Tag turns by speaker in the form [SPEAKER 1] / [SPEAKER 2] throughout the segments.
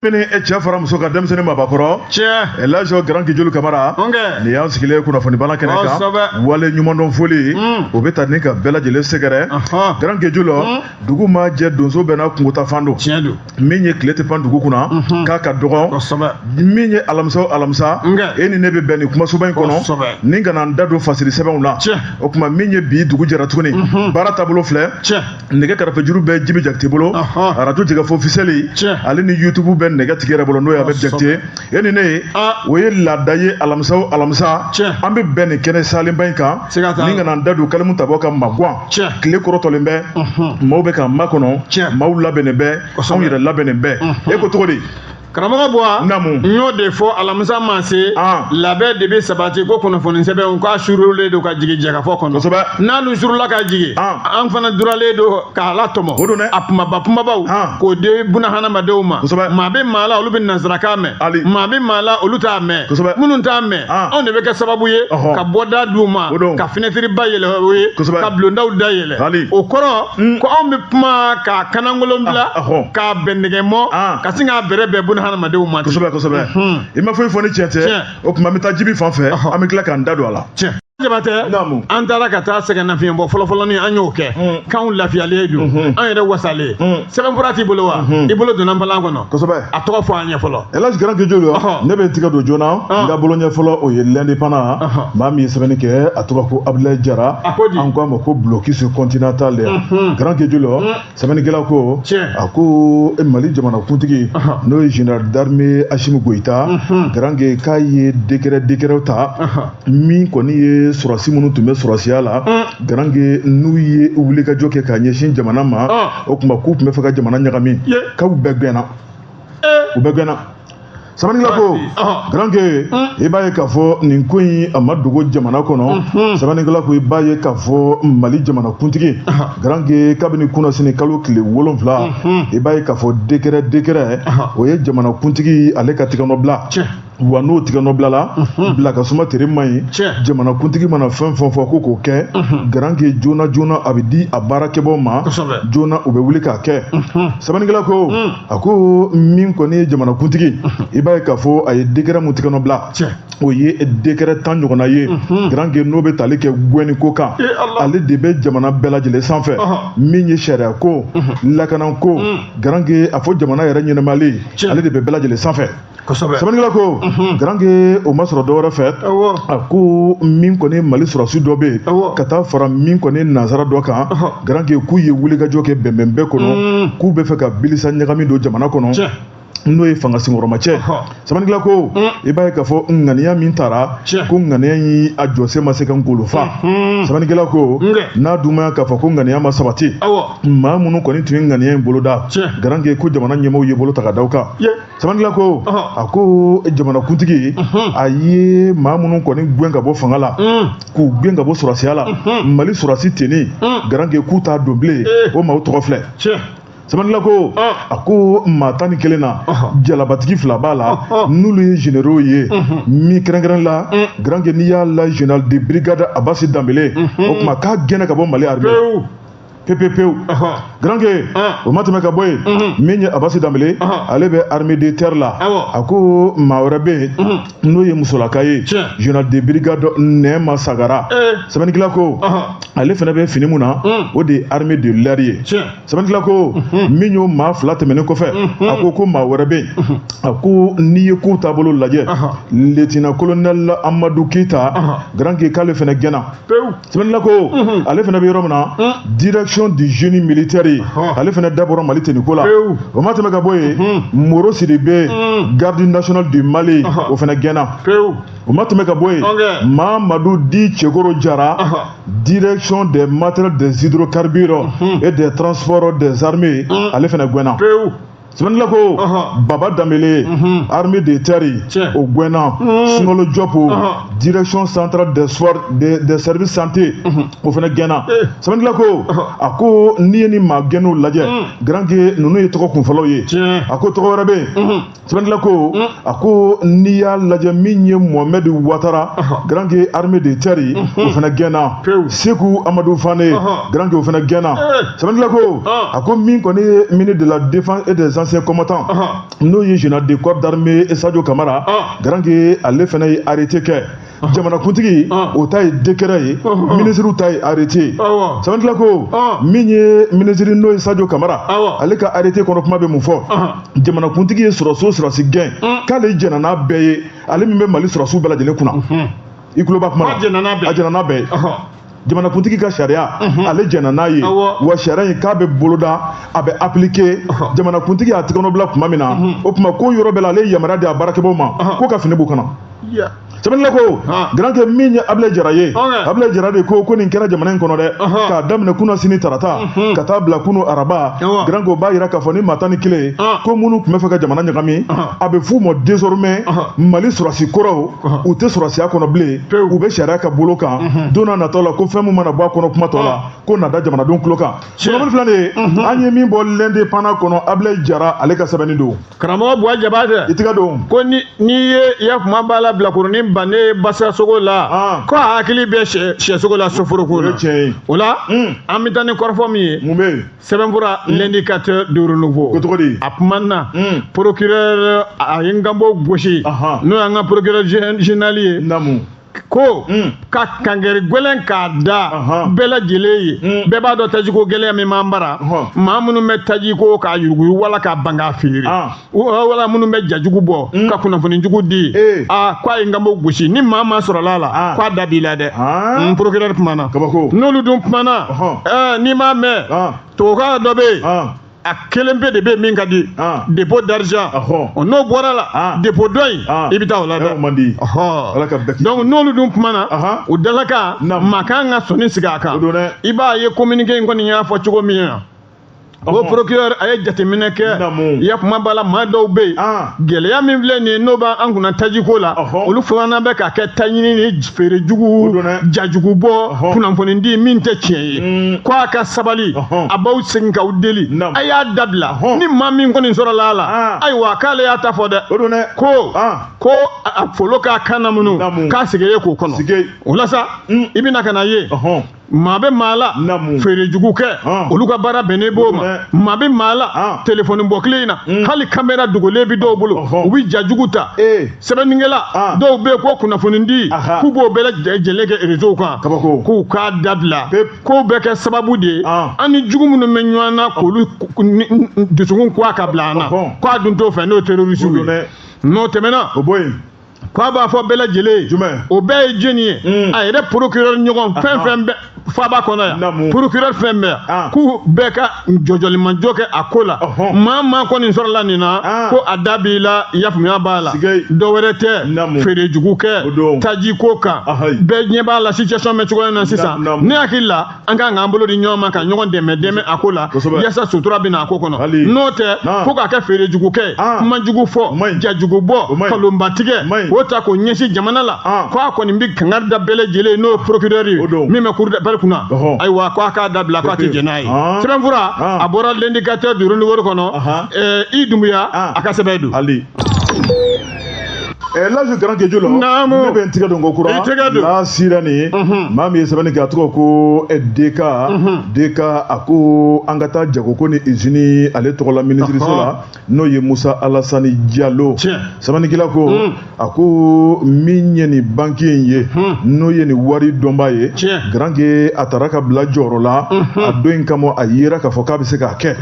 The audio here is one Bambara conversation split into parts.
[SPEAKER 1] Min ye cɛ fara muso kan denmisɛnnin mabakɔrɔ cɛ laji garanke joli kamara nin y'an sigilen kunnafoni bala kɛnɛ kan wale ɲumandɔn foli o bɛ taa ni ka bɛɛ lajɛlen sɛgɛrɛ garanke joli dugu ma jɛ donso bɛɛ n'a kungo taafan don min ye tile tɛ pan dugu kunna k'a ka dɔgɔ min ye alamisa o alamisa e ni ne bɛ bɛn nin kumasoba in kɔnɔ ni ka na n da don fasiri sɛbɛnw la o tuma min ye bi dugu jɛra tuguni baara taabolo filɛ nɛgɛ karafe juru bɛ jibi jakite bolo arajo jɛkafɔ ofisiyɛli ale ni yutubu bɛ nɛgɛ tigi yɛrɛ bolo n'o ye abɛ jakite e ni ne ye o ye laada ye alamisa o alamisa an bɛ bɛn nin kɛnɛ salenba in kan ni ka na n da don kalimu tabaa ka magan tile kɔrɔtɔlen bɛ maaw bɛ k'a makɔnɔ maaw labɛnnen bɛ anw yɛrɛ labɛnnen bɛ e ko cogo di karamɔgɔ
[SPEAKER 2] buwa n y'o de fɔ alamisa ma se ah. labɛn de bɛ sabati ko kunnafoni sɛbɛnw k'a surulen don ka jigin jɛkafɔ kɔnɔ n'alu surula ka jigin ah. an fana duralen don k'a latɔmɔ a kumaba kumabaw ah. k'o di buna hadamadenw ma maa bɛ maa la olu bɛ nansarakan mɛn maa bɛ maa la olu t'a mɛn minnu t'a mɛn anw de bɛ kɛ sababu ye ka bɔda d'u ma ka finɛtiriba yɛlɛ u ye ka bulondaw da yɛlɛ Hali. o kɔrɔ ko anw bɛ kuma k'a kanankolon bila Ah, ahɔ. k'a bɛn nɛgɛ mɔ Ah. ka sin k'a bɛrɛ bɛn buna hadamadenw ma ten. kosɛbɛ kosɛbɛ Mhm. i
[SPEAKER 1] ma foyi fɔ ni tiɲɛ tɛ Tiɲɛ. o tuma an bɛ taa jibi fan fɛ Ɔhɔ. an bɛ tila k'an da don a la tiɲɛ jabatɛ
[SPEAKER 2] Naamu. an taara ka taa sɛgɛnnafiɲɛbɔ fɔlɔfɔlɔni an y'o kɛ Mm. k'anw lafiyalen don Mhm. an yɛrɛ wasalen Mm. sɛbɛnfura t'i bolo wa i bolo donna npalan kɔnɔ kosɛbɛ a tɔgɔ fɔ an ye fɔlɔ Elhaj Grand Ke Joli yo
[SPEAKER 1] Ɔhɔ. ne bɛ n tigɛ don joona n ka bolo ɲɛ fɔlɔ o ye l'Indépendant Ɔhɔ. maa min ye sɛbɛnni kɛ a tɔgɔ ko Abdulaye Jara A ko di? an ko a ma ko blocus continental de Unhun. Grand Ke Joli yo sɛbɛnnikɛla ko Tiɲɛ. a ko e Mali jamanakuntigi Ɔhɔ. n'o ye général d'armée Assimi Goïta Grand Ke k'a ye décret décret ta Ɔhɔ. min kɔni ye sɔrɔsi minnu tun bɛ sɔrɔsiya la garange n'u ye wulikajɔ kɛ k'a ɲɛsin jamana ma o tuma k'u tun bɛ fɛ ka jamana ɲagami k'u bɛɛ gɛnna u bɛɛ gɛnna sɛbɛnnikɛla ko garange i b'a ye k'a fɔ nin ko in a ma dogo jamana kɔnɔ sɛbɛnnikɛla ko i b'a ye k'a fɔ mali jamana kuntigi garange kabini kunasini kalo tile wolonfila i b'a ye k'a fɔ dekɛrɛ dekɛrɛ o ye jamana kuntigi ale ka tigɛnɔbila wa n'o tigɛ nɔ bilala mhm. bila ka suma tere man ɲi jamanakuntigi mana fɛn fɛn fɔ ko k'o kɛ mhm. garanke joona joona a bɛ di a baarakɛbaaw ma joona u bɛ wuli k'a kɛ mhm. sɛbɛnnikɛla ko mm. a ko min kɔni ye jamanakuntigi i b'a ye k'a fɔ a ye dekɛrɛ min tigɛ nɔ bila o ye dekɛrɛ tan ɲɔgɔnna ye garanke n'o bɛ tali kɛ gɛnni ko kan eh, ale de bɛ jamana bɛɛ lajɛlen sanfɛ min ye sariya ko lakana ko mm. garanke a fɔ jamana yɛrɛ ɲɛnɛmayali ale de bɛ bɛɛ lajɛlen sanfɛ sɛbɛnnikɛla ko garanke o ma sɔrɔ dɔwɛrɛ fɛ a ko min kɔni mali sɔrɔsi dɔ bɛ yen ka taa fara min kɔni nansara dɔ kan garanke k'u ye wulikajɔ kɛ bɛnbɛn bɛɛ kɔnɔ k'u bɛ fɛ ka bilisa ɲagami don jamana kɔnɔ n'o ye fanga senkɔrɔma cɛ sɛbɛnnikɛla ko mm. i b'a ye k'a fɔ ŋaniya min tara ko ŋaniya in a jɔsen ma se ka ngolo fa mm-hmm. sɛbɛnnikɛla ko n'a dumaya k'a fɔ ko ŋaniya ma sabati maa minnu kɔni tun ye ŋaniya in boloda garanke ko jamana ɲɛmɔgɔw ye bolo ta ka da u kan sɛbɛnnikɛla ko a ko jamanakuntigi a ye maa minnu kɔni gɛn ka bɔ fanga la k'u gɛn ka bɔ sɔrɔsiya la mali sɔrɔsi tenue garanke k'u t'a don bilen o maaw tɔgɔ filɛ sɛbɛnnikɛla ko a ko maa tan ni kelen na jalabatigi fila b'a la n'olu ye généraux ye min kɛrɛnkɛrɛn la garanke n'i y'a la général de brigade abasi danbele o tuma k'a gɛnna ka bɔ mali pepepewu garanke o ma tɛmɛ ka bɔ yen min ye abasi danbele ale bɛ armée de terre la a ko maa wɛrɛ bɛ yen n'o ye musolaka ye général de brigade nɛɛma sagara sɛbɛnnikɛla ko ale fana bɛ fini min na o de ye armée de l'air ye sɛbɛnnikɛla ko min y'o maa fila tɛmɛnen kɔfɛ a ko ko maa wɛrɛ bɛ yen a ko n'i ye kow taabolo lajɛ lieutenant colonel amadu keyita garanke k'ale fana gɛnna Sinanla ko ale fana bɛ yɔrɔ min na dirason de z militeri ale fana dabɔ mali tɛ ni ko la o ma tɛmɛ ka bɔ yen mori siri bɛ gadi nas de mali o fana gɛnna o ma tɛmɛ ka bɔ yen maa madi di cɛkoro jara dirason de matɛ dezdro karidi e de tso dezrime ale fana gɛnna sɛbɛnnikɛla ko baba danbele mhm. armée de terre o gɛnna mhm. sungalo jɔpu direction centrale des soins des services santé mhm. o fana gɛnna eh. sɛbɛnnikɛla ko a ko n'i ye nin maa gɛnnenw lajɛ garanke ninnu ye tɔgɔ kunfɔlɔw ye a ko tɔgɔ wɛrɛ bɛ yen sɛbɛnnikɛla ko a ko n'i y'a lajɛ min ye mohamɛd watara garanke armée de terre o fana gɛnna seku amadu fane garanke o fana gɛnna sɛbɛnnikɛla ko a ko min kɔni ye ministre de la défense et des anciens combattants n'o ye général de corps d'armée sadio kamara garanke ale fana ye arrêté kɛ jamanakuntigi o ta ye dekɛrɛ ye minisiriw ta ye arete ye sɛbɛnnikɛla ko min ye minisiri n'o ye sajo kamara ale ka arete kɔnɔ kuma bɛ mun fɔ jamanakuntigi ye sɔrɔsi o sɔrɔsi gɛn k'ale jɛnna n'a bɛɛ ye ale min bɛ mali sɔrɔsiw bɛɛ lajɛlen kunna i tulo b'a kuma na a jɛnna n'a bɛɛ ye jamanakuntigi ka sariya ale jɛnna n'a ye wa sariya in k'a bɛ boloda a bɛ appliquer jamanakuntigi y'a tɛgɛnɔ bila tuma min na o tuma ko yɔrɔ bɛɛ la ale ye yamaruya di a baarakɛbaaw ma ko ka fini b'u kan na sɛbɛnni ko garankɛ min ye abilayi jara ye abilayi jara de ko ko nin kɛra jamana in kɔnɔ dɛ k'a daminɛ kunasini tarata ka taa bila kunu araba garankɛ o b'a yira k'a fɔ ni maa tan ni kelen ko minnu tun bɛ fɛ ka jamana ɲagami a bɛ f'u ma désormais mali sɔrɔsi kɔrɔw u tɛ sɔrɔsiya kɔnɔ bilen u bɛ sariya ka bolo kan mhm. don n'a natɔ la ko fɛn min mana bɔ a kɔnɔ kuma tɔ la ah. k'o na da jamanadenw tulo kan sɔrɔmani filɛ nin ye mhm. an ye min bɔ l'indépendant kɔnɔ abilayi jara ale ka sɛbɛnni don karamɔgɔ buwa
[SPEAKER 2] jabatɛ i tɛgɛ don ko
[SPEAKER 1] ni n'i
[SPEAKER 2] ye i ya kuma b'a la bilakoronin bannen basa sogo la ah. ko a hakili bɛ sɛ sogo la soforoko la o la hmm. an bɛ taa ni kɔrɔfɔ min ye mun bɛ yen sɛbɛnfura hmm. l'indicateur de renouveau ko cogo di a
[SPEAKER 1] kumana
[SPEAKER 2] hmm. procureur a ye nkanbo gosi n'o y'an ka procureur général ye naamu ko hmm. ka kangari gwɛlɛn k'a da bɛɛ lajɛlen ye bɛɛ b'a dɔn tajiko gɛlɛya min b'an bara maa minnu bɛ tajiko k'a yuruguyugu wala ka ban k'a feere ah. wala minnu bɛ jajugu bɔ mm. ka kunnafoni jugu di eh. a ko a ye nkanbo gosi ni maa maa sɔrɔla a la ah. ko a da b'i la dɛ ah. n mm, procureur kumana n'olu dun kumana eh, n'i m'a mɛn ah. tubabukan dɔ bɛ yen a kelen pe de bɛ min ka di ah. dépôt d'argent n'o bɔra la ah. dépôt dɔ in ah. i bɛ taa o la dɛ donc n'olu dun kumana o dalakan maa kan ka sɔnin sigi a kan i b'a ye communiqué in kɔni y'a fɔ cogo min na o Ɔhɔn. procureur a ye jateminɛ kɛ Naamu. ya kuma b'a la maa dɔw bɛ yen Ah. gɛlɛya min filɛ nin ye n'o b'an an kunna tajiko la Ɔhɔn. olu fana bɛ k'a kɛ taɲini ni feerejugu jajugubɔ Ɔhɔn. kunnafonidi min tɛ tiɲɛ ye Mm. ko a ka sabali Ɔhɔn. a b'aw segin k'aw deli Naamu. a y'a dabila Ɔhɔn. ni maa min kɔni sɔrɔla a la Ah. ayiwa k'ale y'a ta fɔ dɛ o ko Ah. ko a a folo k'a kan na minnu Naamu. k'a sigi ye k'o kɔnɔ Sigi. o la sa Mm. i bɛna ka na ye Ɔhɔn. maa bɛ maa la feerejugu kɛ olu ka baara bɛnnen b'o ma maa bɛ maa la telefɔni bɔ kile in na hmm. hali kamera dogolen bɛ dɔw bolo u bɛ ja jugu ta eh. sɛbɛnnikɛla dɔw bɛ yen ko kunnafonidi k'u b'o bɛɛ lajɛlen kɛ rezow kan k'u k'a dabila k'o bɛ kɛ sababu de ye an ni jugu minnu bɛ ɲɔgɔn na k'olu dusukun k'a ka bila an na k'a dun t'o fɛ n'o ye terorisiw ye n'o tɛmɛna ko a b'a fɔ bɛɛ lajɛlen o bɛɛ ye jɔni ye a yɛrɛ procureur ɲɔgɔn fɛn fɛn bɛ faba kɔnɔ yan procureur fɛn bɛ yan k'u bɛɛ ka jɔjɔlimajɔ kɛ a ko la maa maa kɔni sɔrɔla nin na ko a da b'i la yafamuya b'a la dɔ wɛrɛ tɛ feere jugu kɛ taji ko kan bɛɛ ɲɛ b'a la situation bɛ cogoya na sisan ne hakili la an ka k'an bolo di ɲɔgɔn ma ka ɲɔgɔn dɛmɛ dɛmɛ a ko la yasa sutura bɛna a ko kɔnɔ n'o tɛ fo k'a kɛ feere jugu kɛ kuma jugu fɔ ja jugu bɔ kalonba tigɛ o ta k'o ɲɛsin jamana la ko a kɔni bɛ kangari da bɛɛ lajɛlen n'o ye procureur ye min bɛ cour d'appel kunna ayiwa ko a k'a dabila k'a tɛ jɛn n'a ye sɛbɛnfura a bɔra L'Indicateur du Renouveau kɔnɔ i dunbuya a ka sɛbɛn don.
[SPEAKER 1] laji garanke jula ne bɛ n tigɛ don ko kura n'a sira nin ye maa min ye sɛbɛnni kɛ a tɔgɔ ko DK DK a ko an ka taa jago ko ni izini ale tɔgɔ la minisiriso la n'o ye musa alasani jalo sɛbɛnnikɛla ko a ko min ye nin banki in ye n'o ye nin wari dɔnba ye garanke a tara ka bila jɔyɔrɔ la a dɔnni kama a yera k'a fɔ k'a bɛ se k'a kɛ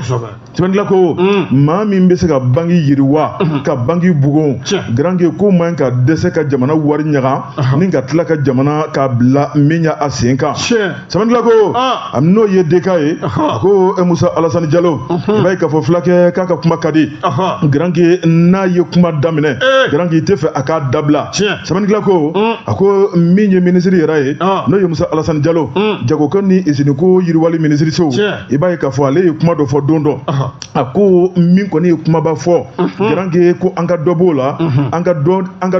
[SPEAKER 1] Sɛbɛnnikɛla ko mm. maa min bɛ se ka banki yiriwa mm-hmm. ka banki bugun garankɛ k'o man ka dɛsɛ ka jamana wari ɲaga uh-huh. ni ka tila ka jamana ka bila min ye a sen kan sɛbɛnnikɛla ko ah. a n'o ye DK ye uh-huh. a ko e musa alasani jalo mm-hmm. b'a ye k'a fɔ fulakɛ k'a ka kuma ka di uh-huh. garankɛ n'a ye kuma daminɛ eh. garankɛ i tɛ fɛ a k'a dabila sɛbɛnnikɛla ko mm. a ko min ye minisiri yɛrɛ ye ah. n'o ye musa alasani jalo mm. jagoko ni iziniko yiriwali minisiriso i b'a ye k'a fɔ ale ye kuma dɔ fɔ don dɔ a ko min kɔni ye kumaba fɔ garanke ko an ka dɔ b'o la an ka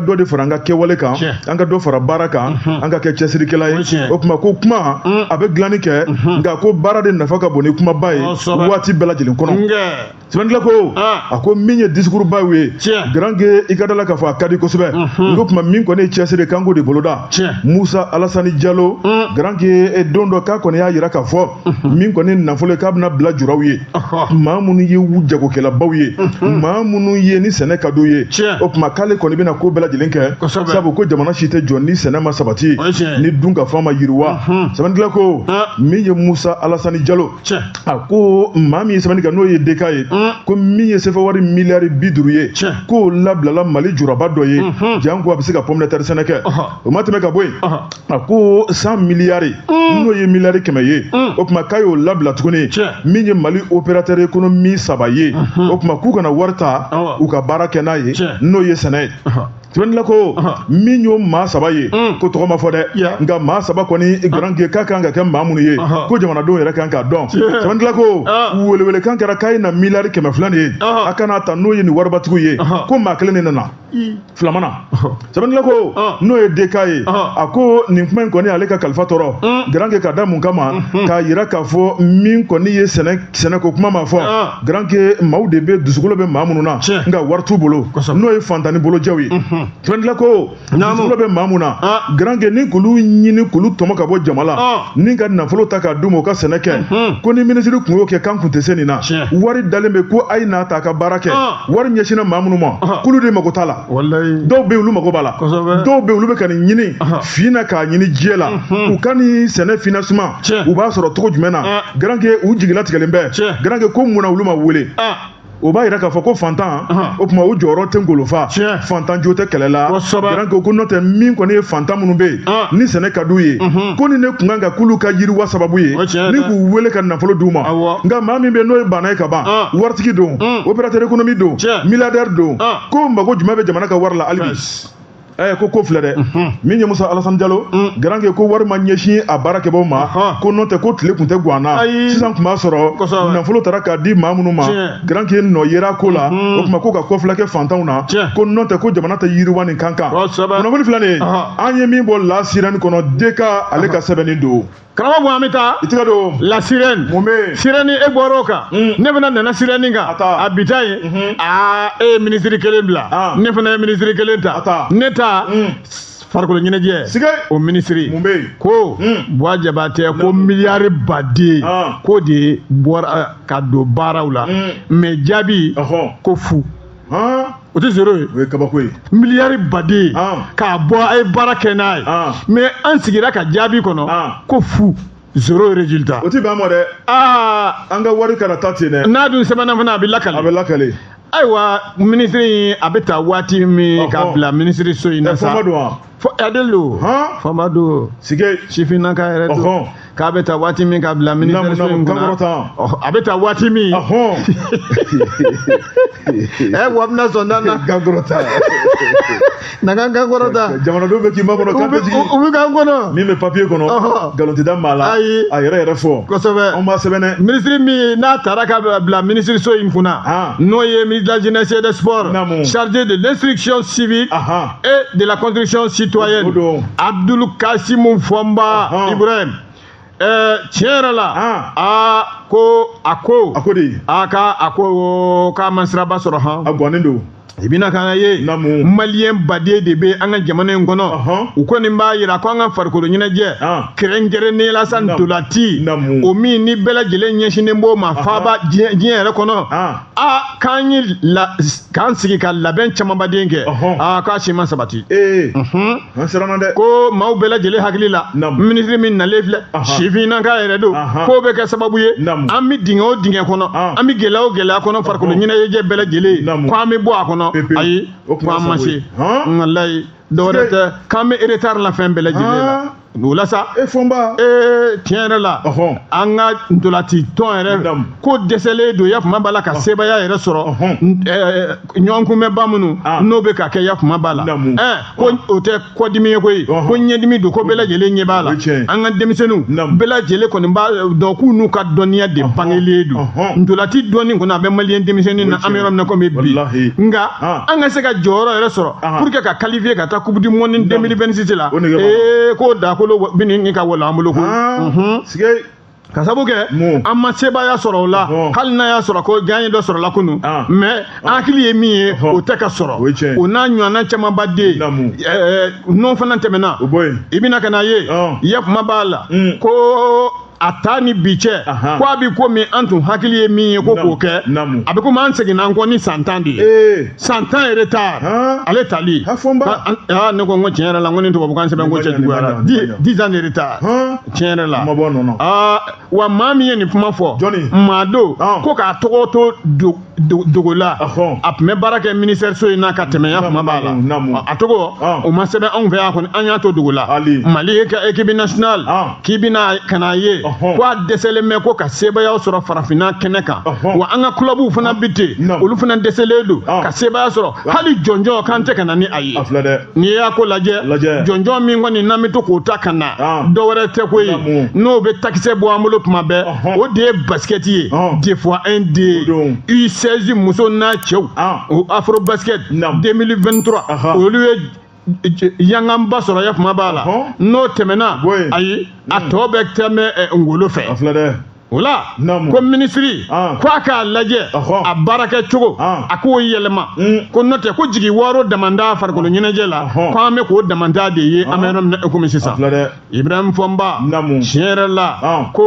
[SPEAKER 1] dɔ de fara an ka kɛwale kan an ka dɔ fara baara kan an ka kɛ cɛsirikɛla ye o tuma ko kuma a bɛ dilanni kɛ nka ko baara de nafa ka bon ni kumaba ye waati bɛɛ lajɛlen kɔnɔ Sɛbɛnnikɛla ko a ko min ye discours baw ye garankɛ i ka da la k'a fɔ a ka di kosɛbɛ o tuma min kɔni ye cɛsiri kan k'o de boloda musa alasani jalo garankɛ don dɔ k'a kɔni y'a jira k'a fɔ min kɔni nafolo ye k'a bɛna bila juraw ye maa minnu ye jagokɛlabaw ye maa minnu ye ni sɛnɛ ka d'u ye o tuma k'ale kɔni bɛna ko bɛɛ lajɛlen kɛ sabu ko jamana si tɛ jɔ ni sɛnɛ ma sabati ni dunkafa ma yiriwa sɛbɛnnikɛla ko min ye musa alasani jalo a ko maa min ye sɛbɛnni kɛ n'o ye DK ye ko min ye sefa wari miliyari bi duuru ye k'o labilala Mali juraba dɔ ye janko a bɛ se ka pomme de terre sɛnɛ kɛ o ma tɛmɛ ka bɔ yen a ko cent miliyari n'o ye miliyari kɛmɛ ye o tuma k'a y'o labila tuguni min ye Mali opérateur économique saba ye o tuma k'u ka na wari ta u ka baara kɛ n'a ye n'o ye sɛnɛ ye. Sɛbɛnnikɛla ko min y'o maa saba ye mm. k'o tɔgɔ ma fɔ dɛ nka maa saba kɔni garankɛ ka kan ka kɛ maa minnu ye ko jamanadenw yɛrɛ kan k'a dɔn sɛbɛnnikɛla ko welewele kan kɛra k'a ye na miliyari kɛmɛ fila de ye a ka n'a ta n'o ye nin waribatigiw ye ko maa kelen de nana fila ma na sɛbɛnnikɛla ko n'o ye DK ye a ko nin kuma in kɔni ale ka kalifa tɔɔrɔ mm. garankɛ ka da mun kama mm-hmm. k'a jira k'a fɔ min kɔni ye sɛnɛ ko kuma ma fɔ garanke maaw de bɛ dusukolo bɛ maa minnu na nka wari t'u bolo n'o ye fantanni bolojɛw ye tila ko dusukolo bɛ maa minnu na garanke ni k'olu ɲini k'olu tɔmɔ ka bɔ jama la ni ka nafolo ta k'a d'u ma u ka sɛnɛ kɛ ko ni minisiri tun y'o kɛ k'an kun tɛ se nin na wari dalen bɛ ko a ye n'a ta a ka baara kɛ wari ɲɛsinna maa minnu ma k'olu de mako t'a la dɔw bɛ olu mako b'a la dɔw bɛ olu bɛ ka nin ɲini fin na k'a ɲini jɛ la mhm. u ka nin sɛnɛ financement u b'a sɔrɔ cogo jumɛn na ah. garanke u jigilatigɛlen bɛ garanke ko mun na olu ma wele ah. o b'a yira k'a fɔ ko fantan o tuma o jɔyɔrɔ tɛ ngolofa fantan jo tɛ kɛlɛ la garanke ko n'o tɛ min kɔni ye fantan minnu bɛ yen ni sɛnɛ ka d'u ye mhm. ko nin de kun kan ka k'olu ka yiriwa sababu ye ni k'u wele ka nafolo d'u ma nka maa min bɛ n'o ye baana ye ka ban waritigi don mm. opérateur économique don milliardaire don k'o mago jumɛn bɛ jamana ka wari la hali bi ɛ ko ko filɛ dɛ min ye musa alasan jalo garanke ko wari ma ɲɛsin a baarakɛbaaw ma ko n'o tɛ ko tile tun tɛ guwan na sisan tun b'a sɔrɔ nafolo taara k'a di maa minnu ma garanke nɔ yera ko la o tuma ko ka kɔfilɛ kɛ fantanw na ko n'o tɛ ko jamana tɛ yiriwa nin kan kunnafoni filɛ nin ye an ye min bɔ La Sirène kɔnɔ deka ale ka sɛbɛnni don karamɔgɔ bɔ an bɛ
[SPEAKER 2] taa. i tɛgɛ don. La
[SPEAKER 1] Sirène. mun bɛ
[SPEAKER 2] yen. Sirène
[SPEAKER 1] e bɔra o
[SPEAKER 2] kan. Mm. ne fana nana Sirène kan. a ta. a bi ta yen. Mhm. aa e ye minisiri kelen bila. Ah. ne fana ye minisiri kelen ta. a ta. ne ta. Mm. farikolo ɲɛnajɛ o minisiri ko mm. buwa jabatɛ ko miliyari baden ah. k'o de bɔra ka don baaraw la mais jaabi ko fu o tɛ zéro ye o ye kabako
[SPEAKER 1] ye miliyari
[SPEAKER 2] baden k'a bɔ a ye baara kɛ n'a ye mais an sigira ka jaabi kɔnɔ ko fu zéro résultat o tɛ bɛn a ma
[SPEAKER 1] dɛ aa an ka wari kana taa ten dɛ n'a dun sɛbɛnna fana a
[SPEAKER 2] bɛ lakale a bɛ lakale ayiwa minisiri in a bɛ taa waati min k'a bila minisiriso in na sa Adelu faama don si sifinnaka yɛrɛ don k'a bɛ taa waati min k'a bila mini a bɛ taa waati min ɛ wa bɛna sɔn na na kan kɔrɔta jamanadenw bɛ k'i makɔnɔ
[SPEAKER 1] kan bɛ k'an kɔnɔ min
[SPEAKER 2] bɛ papiye
[SPEAKER 1] kɔnɔ nkalontigiya b'a la ayi a yɛrɛ yɛrɛ fɔ kosɛbɛ anw b'a
[SPEAKER 2] sɛbɛn
[SPEAKER 1] minisiri min n'a taara
[SPEAKER 2] k'a bila minisiriso in kunna n'o ye ministre de la jeunesse et des sports chargé de l'instruction civique et de la construction citoyenne Abdul Kasim Fomba uh-huh. Ibrahim eh, tiɲɛ yɛrɛ la ah. a ko a ko a ko de a ka a ko k'a ma siraba sɔrɔ han a bɔnnen don
[SPEAKER 1] i bɛna k'a
[SPEAKER 2] ye maliyɛn baden de bɛ an ka jamana in kɔnɔ u kɔni b'a jira ko an ka farikolo ɲɛnajɛ ah. kɛrɛnkɛrɛnnen la sa ntolatan o min ni bɛɛ lajɛlen ɲɛsinnen b'o ma faaba diɲɛ yɛrɛ kɔnɔ ah. aa k'an ye k'an sigi ka labɛn camanba den kɛ aa k'a si ma
[SPEAKER 1] sabati ko maaw bɛɛ lajɛlen
[SPEAKER 2] hakili la minisiri min nalen filɛ sifinnaka yɛrɛ don k'o bɛ kɛ sababu ye an bɛ dingɛ o dingɛ kɔnɔ an bɛ gɛlɛya o gɛlɛya kɔnɔ farikolo ɲɛnajɛ bɛɛ lajɛlen ko an bɛ bɔ a kɔnɔ ayi ko an ma se walayi dɔwɛrɛ tɛ k'an bɛ retard la fɛn bɛɛ lajɛlen la ah. o la sa e fɔnba
[SPEAKER 1] ee tiɲɛ yɛrɛ
[SPEAKER 2] la an ka ntolati tɔn yɛrɛ ko dɛsɛlen don yafama b'a la ka sebaaya yɛrɛ sɔrɔ ɲɔgɔnkunbɛnba minnu ah. n'o bɛ ka kɛ yafama b'a la ɛɛ ko o tɛ kɔdimi ye koyi ko ɲɛdimi don ko bɛɛ lajɛlen ɲɛ b'a la an ka denmisɛnninw bɛɛ lajɛlen kɔni b'a dɔn k'u n'u ka dɔnniya de bangelen don ntolati dɔnni kɔni a bɛ maliyɛn denmisɛnnin na an bɛ yɔrɔ min na komi bi nka ah. an ka se ka jɔyɔrɔ yɛrɛ sɔrɔ pour que ka qualifier ka taa coupe du monde 2026 la ee k'o dakolo bɛ ɲini ka wala an bolo ko ka sabu kɛ an ma sebaaya sɔrɔ o la hali n'a y'a sɔrɔ ko gaɲɛ dɔ sɔrɔla kunu mais an hakili ye min ye o tɛ ka sɔrɔ o n'a ɲɔgɔnna camanba den n'o fana tɛmɛna i bɛna ka n'a ye yafama b'a la ko a taa ni bi cɛ ko a bi komi an tun hakili ye min ye ko k'o kɛ a bɛ komi an seginna an kɔ ni san tan de ye eh. san tan retard ale tali ne ko n ko tiɲɛ yɛrɛ la n ko ni tubabukan sɛbɛn ko cɛjuguyara dix ans de retard tiɲɛ yɛrɛ la wa maa min ye nin kuma fɔ maa don ko k'a tɔgɔ to dogo la a tun bɛ baara kɛ minisiriso in na ka tɛmɛ yafama b'a la a tɔgɔ o ma sɛbɛn anw fɛ yan kɔni an y'a to dogo la mali ka équipe nationale k'i bɛna ka n'a ye ko a dɛsɛlen bɛ ko ka sebaaya sɔrɔ farafinna kɛnɛ kan wa an ka kulabuw fana bi ten olu fana dɛsɛlen don ka sebaaya sɔrɔ hali jɔnjɔn k'an tɛ ka na ni a ye n'i y'a ko lajɛ jɔnjɔn min kɔni n'an bɛ to k'o ta ka na dɔwɛrɛ tɛ ko ye n'o bɛ takisɛ bɔ an bolo tuma bɛɛ o de ye basikɛti ye des fois un de U16 muso n'a cɛw o afro basket 2023 olu ye yanganba sɔrɔ yafama b'a la n'o tɛmɛna ayi a tɔ bɛ tɛmɛ ngolo fɛ o la ko minisiri ko a k'a lajɛ a baarakɛ cogo a k'o yɛlɛma ko n'o tɛ ko jigi waaro damanda farikolo ɲɛnajɛ la ko an bɛ k'o damanda de ye an bɛ yɔrɔ min na i komi sisan ibrahim fɔnba Naamu. tiɲɛ yɛrɛ la Ɔn. ko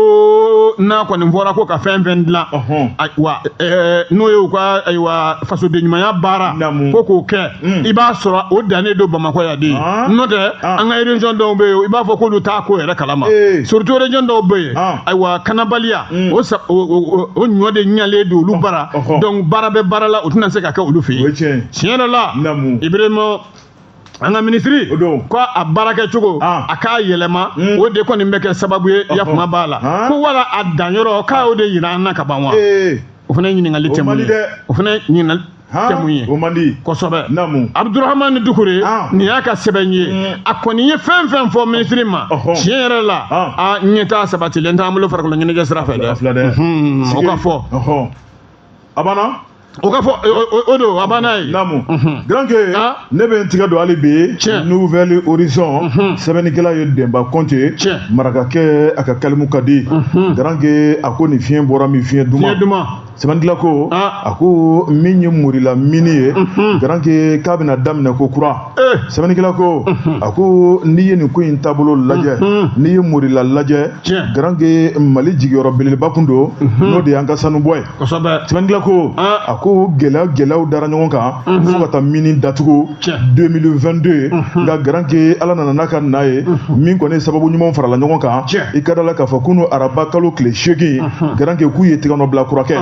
[SPEAKER 2] n'a kɔni fɔra ko ka fɛn fɛn dilan Ɔhɔn. ayiwa ɛɛ, n'o ye u ka ayiwa fasodenɲumanya baara Naamu. ko k'o kɛ Mm. i b'a sɔrɔ o dannen don bamakɔ yan de Ɔn. n'o tɛ Ɔn. an ka région dɔw bɛ yen i b'a fɔ k'olu t'a ko yɛrɛ kalama Ee. surtout région dɔw bɛ yen Ɔn. ayiwa kalanbaliya Mm. o sa- o- o o- o ɲɔ de ɲalen don olu bara ɔhɔ. donc baara bɛ baara la o tɛna se ka kɛ olu fɛ o ye yen tiɲɛ ye tiɲɛ yɛrɛ la Naamu. ibrahim an ka minisiri ko a baarakɛ cogo ah. a k'a yɛlɛma hmm. o de kɔni bɛ kɛ sababu ye yakuma b'a la ah. ko wala a danyɔrɔ k'a y'o de yira an na ka ban wa eh. o fana ye ɲininkali tɛ mun ye o fana ye ɲininkali tɛ mun ye o man di kosɛbɛ abudurahamani dukure ah. nin y'a ka sɛbɛn ye hmm. a kɔni ye fɛn fɛn fɔ minisiri ma tiɲɛ yɛrɛ la a ɲɛtaa sabatilen t'an bolo farikolo ɲɛnajɛ sira fɛ dɛ o ka fɔ a
[SPEAKER 1] banna o ka
[SPEAKER 2] fɔ o don a banna ye naamu garanke
[SPEAKER 1] ne bɛ n tigɛ don hali bi nouvelle horizon sɛbɛnnikɛla ye denba kɔnte marakakɛ a ka kalimu ka di garanke a ko nin fiɲɛ bɔra min fiɲɛ duman sɛbɛnnikɛla ko a ko min ye morila mini ye garanke k'a bɛna daminɛ ko kura sɛbɛnnikɛla ko a ko n'i ye nin ko in taabolo lajɛ n'i ye morila lajɛ garanke mali jigiyɔrɔ belebeleba kun don n'o de y'an ka sanubɔ ye sɛbɛnnikɛla ko a ko gɛlɛya gɛlɛyaw dara ɲɔgɔn kan fo ka taa mini datugu 2022 nka garanke ala nana n'a ka na ye min kɔni sababu ɲumanw farala ɲɔgɔn kan i ka da la k'a fɔ kunu araba kalo tile seegin garanke k'u ye tigɛnɔ bila kura kɛ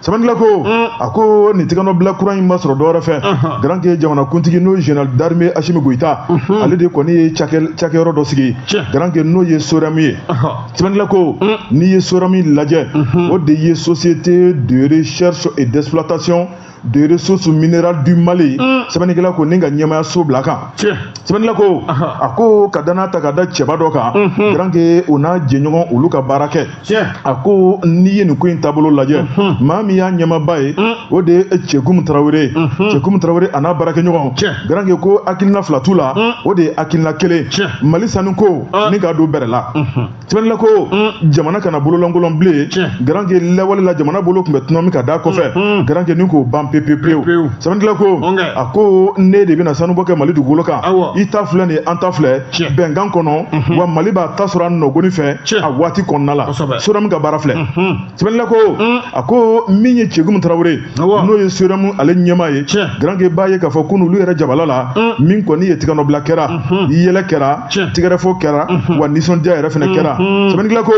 [SPEAKER 1] sɛbɛnnikɛla ko mm. a ko nin tigɛnɔ bila kura in ma sɔrɔ dɔwɛrɛ fɛ uh-huh. garanke jamana kuntigi n'o ye général d'armée asimi goyita uh-huh. ale de kɔni ye cakɛyɔrɔ dɔ sigi garanke n'o ye sorɛmu ye uh-huh. sɛbɛnnikɛla ko mm. n'i ye sorɛmu lajɛ o de ye société de recherche et d'exploitation de ressources minérales du Mali mm. sɛbɛnnikɛla ko ni ka ɲɛmaaya so bila kan sɛbɛnnikɛla ko a ko ka danaya ta ka da cɛba dɔ kan garanke o n'a jɛɲɔgɔn olu ka baara kɛ tiɲɛ a ko n'i ye nin ko in taabolo lajɛ maa min y'a ɲɛmaaba ye o de ye cɛgumu tarawele ye cɛgumu tarawele a n'a baarakɛɲɔgɔn garanke ko hakilina fila t'u la o de ye hakilina kelen mali sanu ko ni k'a don bɛrɛ la sɛbɛnnikɛla ko jamana kana bololankolon bilen garanke lawale la jamana bolo kun bɛ tunun min ka da kɔfɛ garanke ni k'o ban pepewu sɛbɛnnikɛla ko a ko n'e de bɛna sanubɔ kɛ mali dugukolo kan i ta filɛ nin an ta filɛ bɛnkan kɔnɔ wa mali b'a ta sɔrɔ a nɔgɔni fɛ a waati kɔnɔna la sorɛmu ka baara filɛ sɛbɛnnikɛla ko a ko min ye cɛgumu tarawele n'o ye sorɛmu ale ɲɛmaa ye garanke b'a ye k'a fɔ ko n'olu yɛrɛ jabala la min kɔni ye tigɛnɔbila kɛra yɛlɛ kɛra tigɛrɛfɔ kɛra wa nisɔndiya yɛrɛ fɛnɛ kɛra sɛbɛnnikɛla ko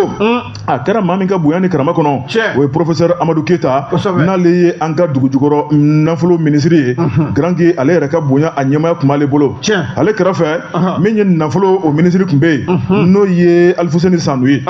[SPEAKER 1] a kɛra maa min ka bonya ni karama kɔnɔ o ye professeur amadu keyita n'ale ye an ka dugujukɔrɔ nafolo minisiri ye mhm. garanke ale yɛrɛ ka bonya a ɲɛmaaya kun b'ale bolo ale kɛrɛfɛ min ye nafoloko minisiri kun bɛ yen mhm. n'o ye alifuseni sanu ye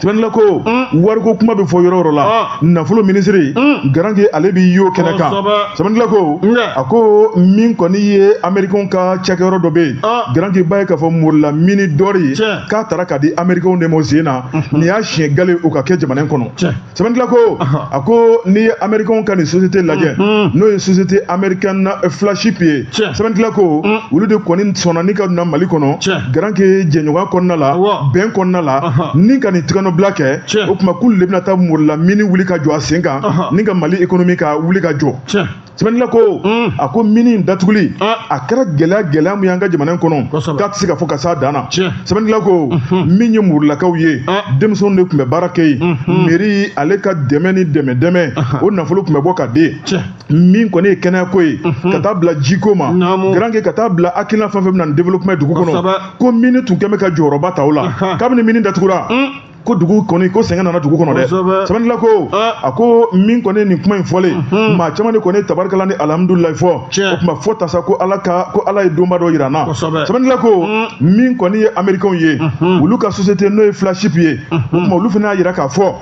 [SPEAKER 1] sɛbɛnnila ko mm. wariko kuma bɛ fɔ yɔrɔ o yɔrɔ la ah. nafolo minisiri mm. garanke ale bɛ y'o kɛnɛ kan sɛbɛnnila ko a ko min kɔni ye amerikɛnw ka cakɛyɔrɔ dɔ bɛ yen ah. garanke b'a ye k'a fɔ morila mini dɔri ye k'a taara k'a di americains de ma o sen na nin y'a siɲɛ gale o ka kɛ jamana in kɔnɔ sɛbɛnnikɛla ko a ko n'i ye americains ka nin société lajɛ n'o ye société américaine flagship ye sɛbɛnnikɛla ko olu de kɔni sɔnna ni ka na mali kɔnɔ garanke jɛɲɔgɔnya kɔnɔna la bɛn kɔnɔna la ni ka nin tɛgɛnɔbila kɛ o tuma k'olu de bɛna taa morila mini wuli ka jɔ a sen kan ni ka mali économie ka wuli ka jɔ sɛbɛnnikɛla ko mm. a ko mini in datuguli ah. a kɛra gɛlɛya gɛlɛya min y'an ka jamana in kɔnɔ k'a tɛ se ka fɔ ka s'a dan na sɛbɛnnikɛla ko mm-hmm. min ye morilakaw ye ah. denmisɛnw de tun bɛ baara kɛ yen mm-hmm. mairie ale ka dɛmɛ ni dɛmɛ dɛmɛ uh-huh. o nafolo tun bɛ bɔ ka di min kɔni ye kɛnɛyako ye mm-hmm. ka taa bila jiko ma garanke ka taa bila hakilina fɛn fɛn bɛ na ni développement dugu kɔnɔ ko mini tun kɛn bɛ ka jɔyɔrɔba ta o la uh-huh. kabini mini datugura mm. ko dugu kɔni ko sɛgɛn nana dugu kɔnɔ dɛ sɛbɛnnikɛla ko a ko min kɔni ye nin kuma in fɔlen mhm. maa caman de kɔni ye tabarikala ni alihamudulilayi fɔ o tuma fɔ tasa ko ala ka ko ala ye donba dɔ yira n na sɛbɛnnikɛla ko mm. min kɔni ye amerikɛnw ye mhm. olu ka sosiyete n'o ye flagship ye mhm. o tuma olu fana y'a yira k'a fɔ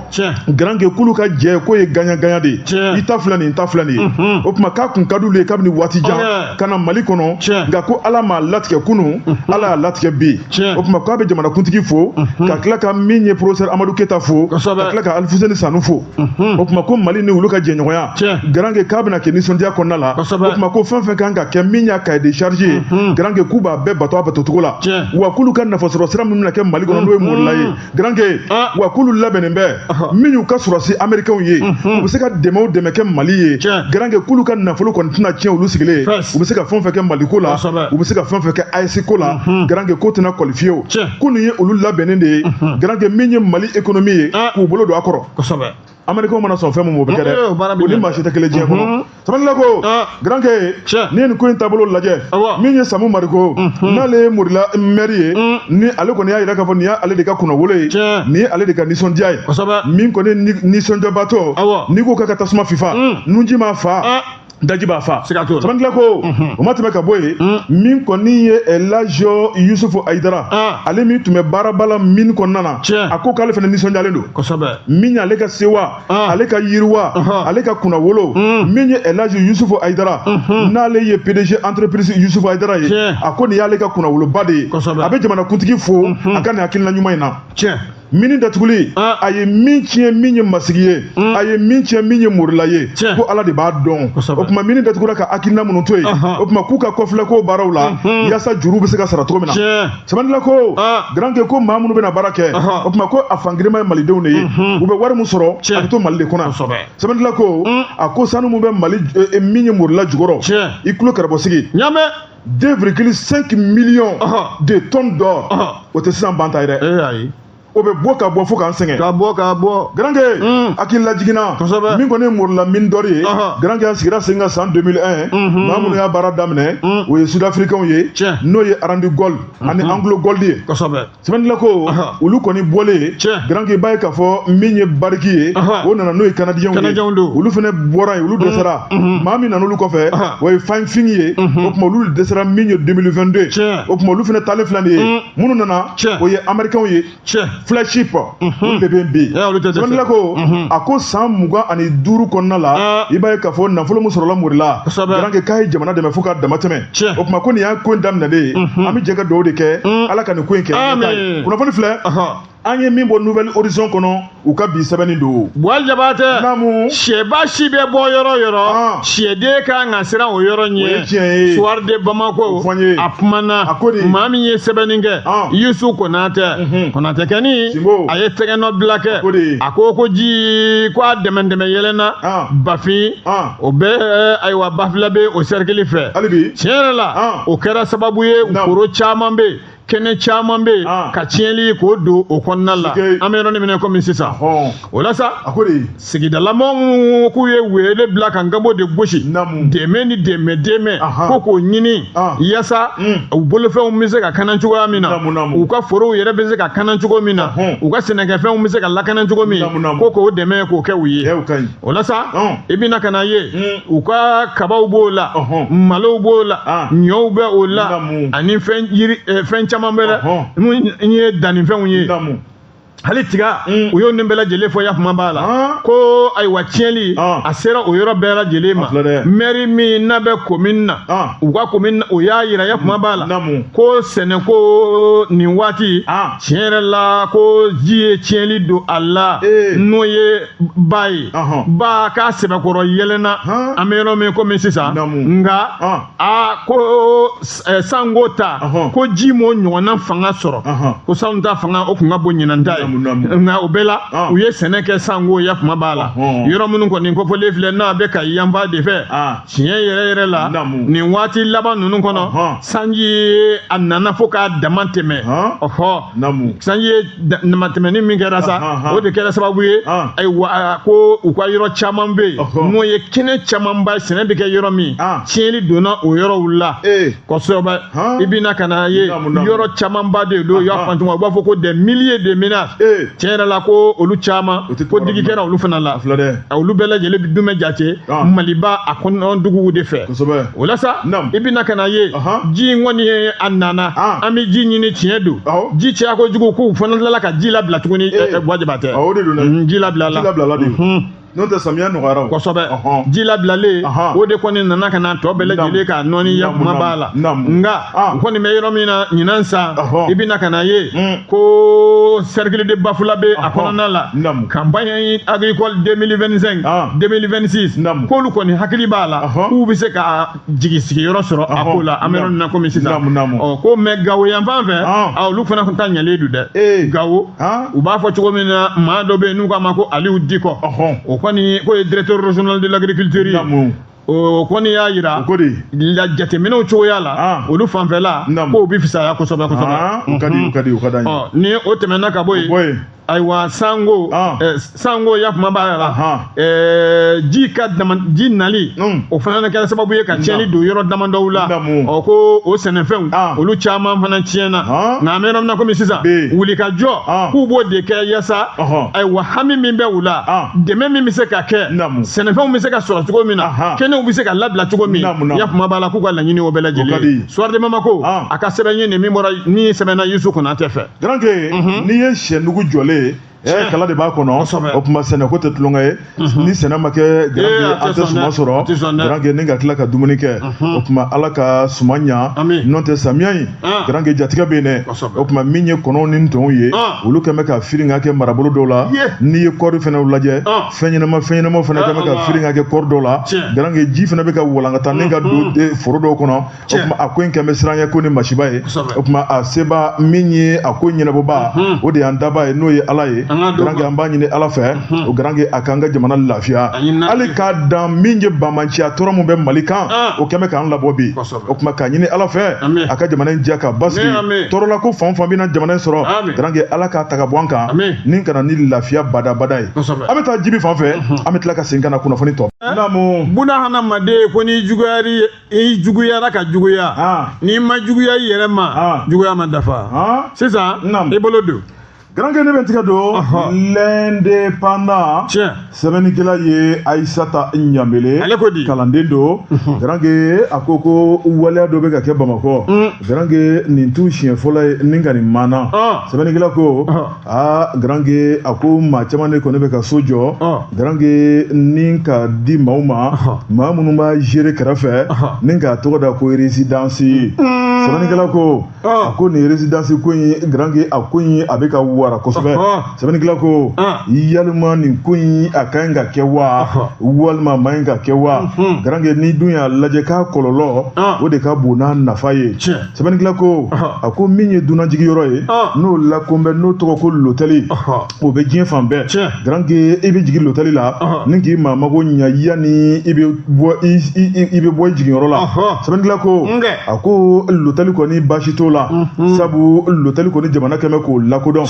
[SPEAKER 1] garanke k'olu ka jɛ k'o ye gagnant-gagnant de ye i ta filɛ nin i ta filɛ nin ye o tuma k'a tun ka d'olu ye kabini waati jan oh, ka na mali kɔnɔ nka ko ala m'a latigɛ kunun ala y'a latigɛ bi o tuma k'a bɛ jamanakuntigi fo ka tila ka min ye porofɛsɛri amadu keyita fo ka tila ka alifuseni sanu fo o tuma ko mali ni olu ka jɛɲɔgɔnya garanke k'a bɛna kɛ nisɔndiya kɔnɔna la o tuma ko fɛn fɛn kan ka kɛ min y'a cahier de charge ye garanke k'u b'a bɛɛ bato a batocogo la wa k'olu ka nafasɔrɔ sira min bɛna kɛ mali kɔnɔ n'o ye morila ye garanke ah. wa k'olu labɛnnen bɛ min y'u ka sɔrɔdasi amerikɛnw ye mhm. u bɛ se ka dɛmɛ o dɛmɛ kɛ mali ye garanke k'olu ka nafolo kɔni tɛna tiɲɛ olu sigilen u bɛ se ka fɛn fɛn kɛ mali ko la u bɛ se ka fɛn fɛn kɛ AES ko la mhm. garanke k'o tɛna kɔli fiyewu ko nin ye olu labɛnnen de ye mhm. garanke min ye mali ekonomi ye ah. k'u bolo don a kɔrɔ américain mana sɔn fɛn min ma o bɛ kɛ dɛ o ni maa si tɛ kelen diɲɛ kɔnɔ mhm. sɛbɛnnikɛla ko ah. garanke n'i ye nin ko in taabolo lajɛ min ye samu mariko mhm. n'ale ye morila mɛri ye mm. ni ale kɔni y'a yira k'a fɔ nin y'ale de ka kunnawolo ye nin ye ale de ka nisɔndiya ye min kɔni ye nisɔndiyabaatɔ n'i ko k'a ka tasuma fifa mm. nunji m'a fa ah. daji b'a fa siga t'o la sɛbɛnnikɛla ko o ma tɛmɛ ka bɔ yen min kɔni ye elaji yusufu ayidara Ah. ale min tun bɛ baaraba la mini kɔnɔna na Tiɲɛ. a ko k'ale fana nisɔndiyalen don kosɛbɛ min y'ale ka sewa Ah. ale ka yiriwa Ɔhɔ. ale ka kunnawolo min ye elaji yusufu ayidara n'ale ye pdg entreprise yusufu ayidara ye Tiɲɛ. a ko nin y'ale ka kunnawoloba de ye Kosɛbɛ. a bɛ jamanakuntigi fo a ka nin hakilina ɲuman in na tiɲɛ mini datuguli ah. a ye min tiɲɛ min ye masigi ye hmm. a ye min tiɲɛ min ye morila ye ko ala de b'a dɔn o tuma mini datugura ka hakilina minnu to yen o tuma k'u ka kɔfilɛ k'o baaraw la hmm. yaasa juru bɛ se ka sara cogo min na sɛbɛnnikɛla ko ah. garanke ko maa minnu bɛna baara kɛ o tuma ko a fangirinma ye malidenw de ye hmm. u bɛ wari min sɔrɔ a bɛ to mali de kɔnɔ sɛbɛnnikɛla ko a ko sanu min bɛ mali eh, eh, min ye morila jukɔrɔ i tulo kɛrɛbɔsigi 2,5 millions de tonnes d'or o tɛ sisan ban ta ye dɛ o bɛ bɔ ka bɔ fo k'an sɛgɛn ka bɔ ka bɔ garankɛ hakililajigin na kosɛbɛ min kɔni ye morila mine d'or ye garankɛ a sigira sen kan san 2001 maa minnu y'a baara daminɛ o ye sudafirikɛnw ye n'o ye Randgold ani AngloGold ye kosɛbɛ sɛbɛnnila ko olu kɔni bɔlen garankɛ i b'a ye k'a fɔ min ye Barrick ye o nana n'o ye kanadiyɛnw ye olu fana bɔra yen olu dɛsɛra maa min nan'olu kɔfɛ o ye Firefinch ye o tuma olu dɛsɛra min ye 2022 ye o tuma olu fana taalen filɛ nin ye minnu nana o ye amerikɛnw ye flagship olu de bɛ yen bi sɛbɛnnila ko a ko san mugan ani duuru kɔnɔna la i b'a ye k'a fɔ nafolo min sɔrɔla morila garankɛ k'a ye jamana dɛmɛ fo ka dama tɛmɛ Tiɲɛ. o tuma ko nin y'a ko in daminɛlen ye an bɛ jɛ ka dugawu de kɛ ala ka nin ko in kɛ an ɲɛtaa ye. Amin. kunnafoni filɛ Ɔhɔn. an ye min bɔ Nouvel Horizon kɔnɔ u ka bi sɛbɛnni don buwa jabatɛ Naamu. sɛba si bɛ bɔ yɔrɔ yɔrɔ Ah. sɛden ka kan ka siran o yɔrɔ ɲɛ O ye tiɲɛ ye. Soir de Bamako O fɔ n ye. a kumana A ko de. maa min ye sɛbɛnni kɛ Ah. yusu konatɛ konatɛkɛni Sinbo. a ye tɛgɛnɔ bila kɛ ko de. a ko ko ji ko a dɛmɛdɛmɛ yɛlɛnna Ah. bafin Ah. o bɛ ayiwa bafulabɛ o sɛrikili fɛ tiɲɛ yɛrɛ la ah. o kɛra sababu ye foro caman bɛ
[SPEAKER 2] kɛnɛ caman bɛ yen ah. ka tiɲɛli k'o don o kɔnɔna la an bɛ yɔrɔnin min na komi sisan o la sa sigidalamaa minnu k'u ye wele bila ka nkanbo de gosi dɛmɛ ni dɛmɛ dɛmɛ ko k'o ɲini ah. yaasa hmm. u bolofɛnw bɛ se ka kanan cogoya min na u ka forow yɛrɛ bɛ se ka kanan cogo min na u ka sɛnɛkɛfɛnw bɛ se ka lakanan cogo min ko k'o dɛmɛ k'o kɛ u ye o la sa i bɛna ka n'a ye u ka kabaw b'o la malow b'o la ɲɔw bɛ o la ani fɛn caman wɛrɛ n'o ye dannifɛnw ye hali tiga mm. u y'o nin bɛɛ lajɛlen fɔ yakuma b'a la ah. ko ayiwa tiɲɛli ah. a sera o yɔrɔ bɛɛ lajɛlen ma mɛri min n'a bɛ komin na ah. u ka komin na o y'a yira yakuma b'a la ko sɛnɛko nin waati tiɲɛ yɛrɛ la ko ji ye tiɲɛli don a la eh. n'o ye ba ye ba k'a sɛbɛkɔrɔ yɛlɛnna an bɛ yɔrɔ min komi sisan nka a ko sanko ta ko ji m'o ɲɔgɔnna fanga sɔrɔ ko salon ta fanga o tun ka bon ɲinan ta ye nka o bɛɛ la u ye sɛnɛ kɛ sanko ya kuma b'a la yɔrɔ minnu kɔni kofɔlen filɛ n'a bɛ kayi yanfan de fɛ tiɲɛ yɛrɛ yɛrɛ la nin waati laban ninnu kɔnɔ sanji a nana fo k'a dama tɛmɛ ɔhɔ sanji ye damatɛmɛni min kɛra sa o de kɛra sababu ye ayiwa ko u ka yɔrɔ caman bɛ yen n'o ye kɛnɛ camanba sɛnɛ bɛ kɛ yɔrɔ min tiɲɛli donna o yɔrɔw la kosɛbɛ i bɛ na ka n'a ye yɔrɔ camanba de don y'a faamu u b'a fɔ ko des milliers de ménages tiɲɛ yɛrɛ la ko olu caman ko digi kɛra olu fana la olu bɛɛ lajɛlen bɛ dumɛ jate maliba a kɔnɔna duguw de fɛ kosɛbɛ o la sa Naamu. i bɛna ka n'a ye Ahan. ji in kɔni ye a nana Ah. an bɛ ji ɲini tiɲɛ don Awɔ. ji caya kojugu k'u fana tilala ka ji labila tuguni Eh. wajibi tɛ Awɔ, o de don dɛ. Mhm, ji labila la Ji labilala de. Mhm. n'o tɛ
[SPEAKER 1] samiya nɔgɔyara o kosɛbɛ Ɔhɔn.
[SPEAKER 2] ji labilalen Ahan. o de kɔni nana ka na tɔ bɛɛ lajɛlen Naamu. ka nɔɔni ya Naamu, kuma b'a la naamu. nka Ah. u kɔni bɛ yɔrɔ min na ɲinan san Ɔhɔ. i bɛ na ka n'a ye Mm. ko cercle de bafulabɛ a Ɔhɔ. kɔnɔna la Naamu. campagne agricole 2025 Ah. 2026 Naamu. k'olu kɔni hakili b'a la Ɔhɔ. k'u bɛ se ka jigi sigiyɔrɔ sɔrɔ a Ɔhɔ. ko la an bɛ yɔrɔ Naamu. min na komi sisan Naamu, naamu. Ɔ, komi gawo yan fan fɛ Ah. a, olu fana ta ɲɛlen don dɛ Ee. gawo Ah. u b'a fɔ cogo min na maa dɔ bɛ yen n'u k'a ma ko aliyu dikɔ Ɔhɔ. o kɔni k'o ye directeur régional de l'agriculture ye Naamu. o kɔni y'a yira ko de la jateminɛw cogoya la ah. olu fanfɛla k'o bɛ fisaya kosɛbɛ kosɛbɛ ah, o ka di o
[SPEAKER 1] ka di o ka d'an ye oh, ni o tɛmɛna ka bɔ
[SPEAKER 2] yen ayiwa sango ah. eh, sango ya kuma b'a la eh, ji ka ji nali hmm. o fana kɛra sababu ye ka tiɲɛni don yɔrɔ damadɔw la ɔ ko o sɛnɛfɛnw olu caman fana tiɲɛna nka an bɛ yɔrɔ min na komi sisan wulikajɔ k'u b'o de kɛ yasa ayiwa hami min bɛ u la dɛmɛ min bɛ se ka kɛ sɛnɛfɛnw bɛ se ka sɔrɔ cogo min na kɛnɛw bɛ se ka labila cogo min ya kuma b'a la k'u ka laɲini o bɛɛ lajɛlen soir de bamakɔ a ka sɛbɛn ye nin min bɔra ni sɛbɛnna yusu konatɛ fɛ garanke mhm. n'i ye
[SPEAKER 1] sɛnugu jɔlen ye kala de b'a kɔnɔ o tuma sɛnɛ ko tɛ tulonkɛ ye mhm. ni sɛnɛ ma kɛ garanke eh, an tɛ suma sɔrɔ garanke ni ka tila ka dumuni kɛ mhm. o tuma ala ka suma ɲa n'o tɛ samiya in ah. garanke jatigɛ bɛ yen dɛ o tuma min ye kɔnɔw ni ntɔnw ye ah. olu kɛn bɛ ka firinga kɛ marabolo dɔw la n'i ye kɔɔri fɛnɛ lajɛ ah. fɛnɲɛnama fɛnɲɛnama fana kɛn bɛ ka firinga kɛ kɔɔri dɔw la garanke ji fana bɛ ka walankata ni ka don foro dɔw kɔnɔ o tuma a ko in kɛn bɛ siranɲɛ ko ni masiba ye o tuma a seba min ye a ko ɲɛnabɔba o de y'an daba ye n'o ye ala ye garanke an b'a ɲini ala fɛ o garanke a k'an ka jamana lafiya hali k'a dan min ye banbaanciya tɔɔrɔ min bɛ mali kan o kɛn bɛ k'an labɔ bi o tuma k'a ɲini ala fɛ a ka jamana in diya ka basigi tɔɔrɔla ko fɛn o fɛn bɛna jamana in sɔrɔ garanke ala k'a ta ka bɔ an kan ni ka na ni lafiya badabada ye an bɛ taa jibi fan fɛ an bɛ tila ka segin ka na kunnafoni tɔ naamu
[SPEAKER 2] buna hadamaden ko n'i juguyara ka juguya n'i ma juguya i yɛrɛ ma juguya ma dafa sisan i bolo don garanke ne bɛ taga
[SPEAKER 1] don l'indépendant sɛbɛnnikɛla ye ayisata ɲanbele kalanden don garanke a ko ko waleya dɔ bɛ ka kɛ bamakɔ garanke nin t'u siɲɛ fɔlɔ ye ni ka nin maana sɛbɛnnikɛla ko aa garange a ko maa caman de kɔni bɛ ka so jɔ garange ni k'a di maaw ma maa minnu b'a gere kɛrɛfɛ ni k'a tɔgɔ da ko rezidansi sɛbɛnnikɛla ko a ko nin rezidansi ko in garange a ko in a bɛ ka wara kosɛbɛ sɛbɛnnikɛla ko yalima nin ko in a ka ɲi ka kɛ wa walima a ma ɲi ka kɛ wa garange n'i dun y'a lajɛ k'a kɔlɔlɔ o de ka bon n'a nafa ye sɛbɛnnikɛla ko a ko min ye dunanjiginyɔrɔ ye n'o lakunbɛn n'o tɔgɔ ko lotɛli o bɛ diɲɛ fan bɛɛ garanke i bɛ jigin lotɛli la ni k'i maa mago ɲɛ yanni i bɛ bɔ i jiginyɔrɔ la sɛbɛnnikɛla ko a ko lotɛli kɔni baasi t'o la sabu lotɛli kɔni jamana kɛmɛ k'o lakodɔn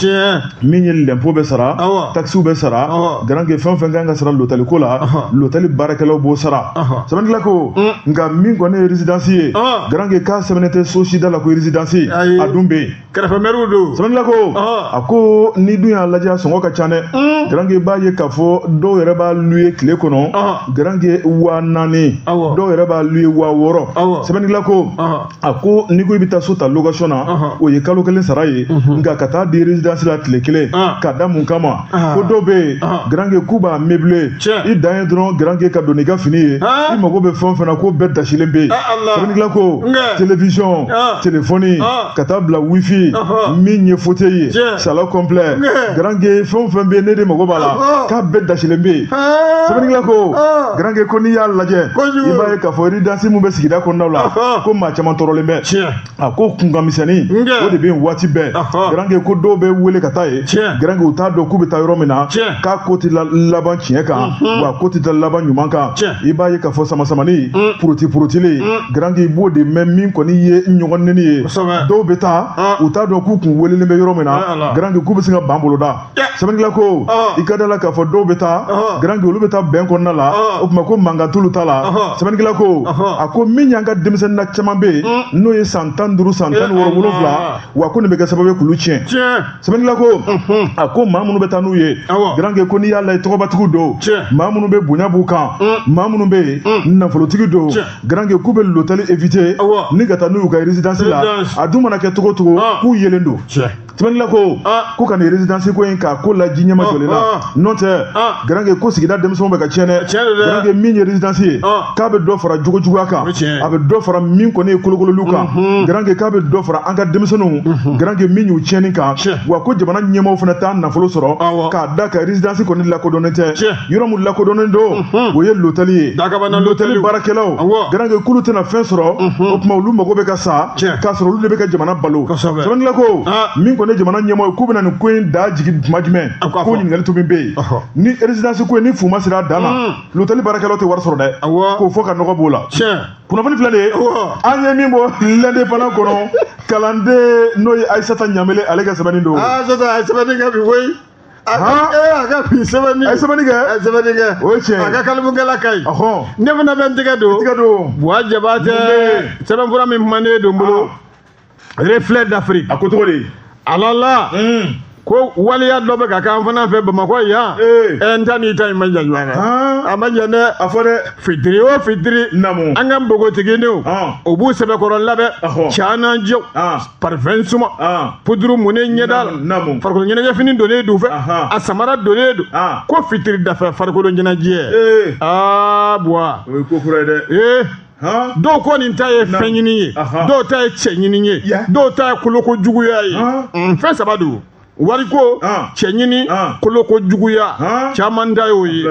[SPEAKER 1] min ye lɛnpo bɛ sara takisiw bɛ sara garanke fɛn fɛn ka kan ka sara lotali ko la lotali baarakɛlaw b'o sara sɛbɛnnikɛla ko mm. nka min kɔni ye residansi ye garanke k'a sɛbɛnnen tɛ so si da la ko residansi a dun bɛ yen kɛrɛfɛmɛriw
[SPEAKER 2] don sɛbɛnnikɛla ko
[SPEAKER 1] a ko n'i dun y'a lajɛ a sɔngɔ ka ca dɛ mm. garanke i b'a ye k'a fɔ dɔw yɛrɛ b'a luwe tile kɔnɔ garanke waa naani dɔw yɛrɛ b'a luwe waa wɔɔrɔ sɛbɛnnikɛla ko a ko n'i ko i bɛ taa so ta location na o ye kalo kelen sara ye nka ka taa di résidence la tile kelen k'a da mun kama ko dɔw bɛ yen garange k'u b'a meubler i dan ye dɔrɔn garange ka don n'i ka fini ye i mago bɛ fɛn o fɛn na k'o bɛɛ dasilen bɛ yen sɛbɛnnikɛla ko télévision telefɔni ka taa bila wifi min ye fauteuil ye salon complet garange fɛn o fɛn bɛ yen n'e de mago b'a la k'a bɛɛ dasilen bɛ yen sɛbɛnnikɛla ko garankɛ ko n'i y'a lajɛ i b'a ye k'a fɔ residansi min bɛ sigida kɔnɔnaw la ko maa caman tɔɔrɔlen bɛ a ko kunkan misɛnnin o de bɛ yen waati bɛɛ garankɛ ko dɔw bɛ wele ka taa yen garankɛ u t'a dɔn k'u bɛ taa yɔrɔ min na k'a ko tɛ laban tiɲɛ kan wa a ko tɛ taa laban ɲuman kan i b'a ye k'a fɔ samasamani poroti porotili garankɛ i b'o de mɛn min kɔni ye ɲɔgɔn nɛni ye dɔw bɛ taa u t'a dɔn k'u kun welelen bɛ yɔrɔ min na garankɛ k'u bɛ se ka ban boloda sɛbɛnnikɛla ko i ka d'a la k'a fɔ dɔw bɛ taa garange olu bɛ taa bɛn kɔnɔna la o tuma ko mankan t'olu ta la sɛbɛnnikɛla ko a ko min y'an ka denmisɛnninna caman bɛ yen mm. n'o ye san tan duuru san tan wɔɔrɔ wolonwula wa ko nin bɛ kɛ sababu ye k'olu tiɲɛ sɛbɛnnikɛla ko a ko maa minnu bɛ taa n'u ye garange ko n'i y'a lajɛ tɔgɔbatigiw don maa minnu bɛ bonya b'u kan mm. maa minnu bɛ yen mm. nafolotigi don garange k'u bɛ lotɛli evite ni ka taa n'u y'u ka résidence la a dun mana kɛ cogo o cogo k'u yelen don sɛbɛnnikɛla ko ah. ko ka nin résidence ko in k'a ko lajɛ ɲɛma ah, jɔlen na ah. n'o tɛ garange ko sigida denmisɛnw bɛ ka tiɲɛ dɛ garange min ye résidence ye k'a bɛ dɔ fara jogo juguya kan a bɛ dɔ fara min kɔni ye kolokololiw kan mhm. garange k'a bɛ dɔ fara an ka denmisɛnninw mhm. garange min y'u tiɲɛni kan wa ko jamana ɲɛmaaw fana t'a nafolo sɔrɔ k'a d'a kan résidence kɔni lakodɔnnen tɛ yɔrɔ min lakodɔnnen don o ye lotali ye lotali baarakɛlaw garanke k'olu tɛna fɛn sɔrɔ o tuma olu mago bɛ ka sa k'a sɔrɔ olu de bɛ ka jamana balo sɛbɛnnikɛla ko min kɔni jamana ɲɛmɔgɔw ye k'u bɛna nin ko in da jigin tuma jumɛn ko ɲininkali min bɛ yen ni erezidansi ko in ni fu ma siri a dan na lotali baarakɛlaw tɛ wari sɔrɔ dɛ k'o fɔ ka nɔgɔ b'o la kunnafoni filɛ de ye an ye min bɔ l'indépendant kɔnɔ kalanden n'o ye ayisata ɲamele ale ka sɛbɛnni don ayisata sɛbɛnni kɛ
[SPEAKER 2] bi koyi Ahan. ee a ka bi sɛbɛnni A ye sɛbɛnni kɛ. a ye
[SPEAKER 1] sɛbɛnni kɛ O ye tiɲɛ ye. a
[SPEAKER 2] ka kalimukala ka ɲi Ɔhɔn. ne fana bɛ n tɛgɛ don Tɛgɛ don. buwa jabatɛ Mun sɛbɛnfura min kumanen don n bolo reflet d'afrique A ko cogo di.
[SPEAKER 1] alala
[SPEAKER 2] Un. ko waleya dɔ bɛ ka k'an fana fɛ bamakɔ yan Ee. ɛ n ta n'i ta in ma jan ɲɔgɔn na Haan. a ma jan dɛ A fɔ dɛ. fitiri
[SPEAKER 1] o fitiri
[SPEAKER 2] Naamu. an ka npogotigininw Ɔn. o b'u sɛbɛkɔrɔ labɛn Ɔhɔn. canan jɛw Ɔn. parfɛn suma ah. puduru munnen ɲɛda la farikolo ɲɛnajɛfini donnen don u fɛ a samara donnen don ah. ko fitiri dafɛ farikolo ɲɛnajɛ eh. aa ah, buwa o ye ko kura ye dɛ
[SPEAKER 1] eh. dɔw
[SPEAKER 2] kɔni ta ye fɛn ɲini ye dɔw ta ye cɛ ɲini ye dɔw ta ye koloko juguya ye mm, fɛn saba don wariko cɛ ɲini koloko juguya caman ta y'o ye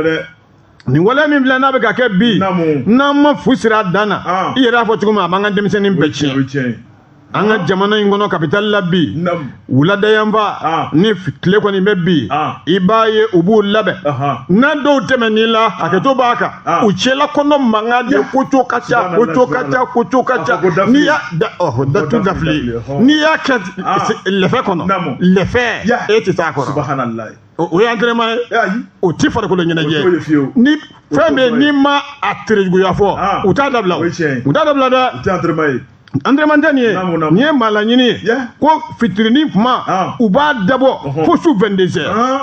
[SPEAKER 2] nin waleya min filɛ n'a bɛ ka kɛ bi n'an ma fu siri a dan na ah. i yɛrɛ y'a fɔ cogo min a b'an ka denmisɛnnin bɛɛ tiɲɛ an ka jamana in kɔnɔ kapitali la bi wulada yanfan ah. ni tile kɔni bɛ bin ah. i b'a ye u b'u labɛn n'a dɔw tɛmɛn'i la hakɛto b'a kan u cɛla kɔnɔn mankan de koco ka ca koco ka ca koco ka ca n'i y'a datu dafili n'i y'a kɛ lɛfɛ kɔnɔ lɛfɛ e tɛ taa kɔrɔ o ye entraînement ye o ti farikolo ɲɛnajɛ ni fɛn bɛnn'i ma a terejuguya fɔ ah. u t'a dabila u t'a dabila dɛ entraînement tɛ nin ye nin ye maa laɲini ye ko fitirinin tuma ah. u b'a dabɔ fo su vingt-deux heures ah.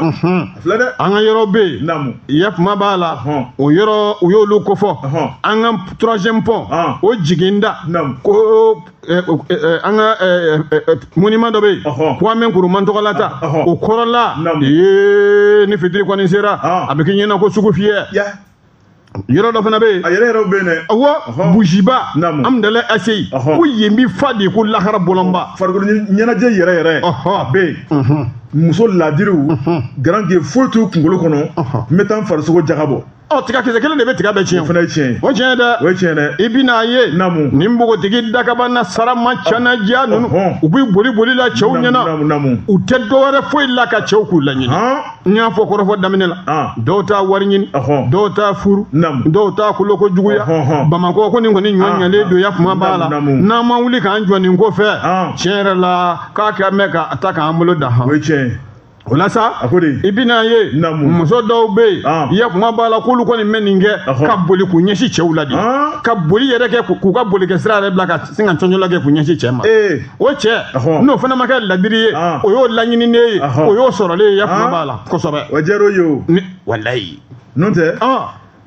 [SPEAKER 2] an ka yɔrɔ bɛ yen yafama b'a la o yɔrɔ u y'olu kofɔ an ka troisième pont o jiginda ko Eh, eh, eh, an ka monument dɔ bɛ yen kwame nkrumah tɔgɔlata o kɔrɔla ee ni fitiri kɔni sera ah. a bɛ k'i ɲɛna ko sugufiyɛ yɔrɔ dɔ fana bɛ yen a yɛrɛ yɛrɛw bɛ yen dɛ awɔ buziba amudalayi aseyi ko yen bi fa de ko lahara bɔlɔnba farikolo ɲɛnajɛ yɛrɛ yɛrɛ a bɛ yen mhm. muso laadiriw mhm. garange foyi t'u kunkolo kɔnɔ n bɛ taa n farisogo jagabɔ ɔ tiga kisɛ kelen de bɛ tiga bɛɛ tiɲɛ o fana ye tiɲɛ ye o tiɲɛ
[SPEAKER 1] dɛ o ye tiɲɛ
[SPEAKER 2] dɛ i bɛna
[SPEAKER 1] a ye
[SPEAKER 2] naamu ni
[SPEAKER 1] npogotigi
[SPEAKER 2] dakabana sarama canaja ninnu u bɛ boliboli la cɛw ɲɛna u tɛ
[SPEAKER 1] dɔwɛrɛ foyi
[SPEAKER 2] la ka cɛw k'u laɲini n y'a fɔ kɔrɔfɔ daminɛ la dɔw ta wari ɲini dɔw ta furu dɔw ta koloko juguya bamakɔ ko nin kɔni ɲɔ ɲɛlen don yafama b'a la n'an ma wuli k'an jɔ nin ko fɛ tiɲɛ yɛrɛ la k'a kɛ mɛn ka taa k'an bolo dan han
[SPEAKER 1] o la sa a
[SPEAKER 2] ko de i bɛna ye Naamu. muso dɔw bɛ yen Ah. ya kuma b'a la k'olu kɔni bɛ nin kɛ Ɔhɔ. ka boli k'u ɲɛsin cɛw la de Ah. ka boli yɛrɛ kɛ k'u- k'u ka boli kɛ sira yɛrɛ bila ka sin ka cɔncɔla kɛ k'u ɲɛsin cɛ ma ee o cɛ Ɔhɔ. n'o fana ma kɛ ladiri ye Ah. o y'o laɲininen ye Ɔhɔ. o y'o sɔrɔlen ye ya kuma Ah. b'a la kosɛbɛ o diyara o ye o
[SPEAKER 1] Ni-
[SPEAKER 2] walayi n'o tɛ
[SPEAKER 1] ɔn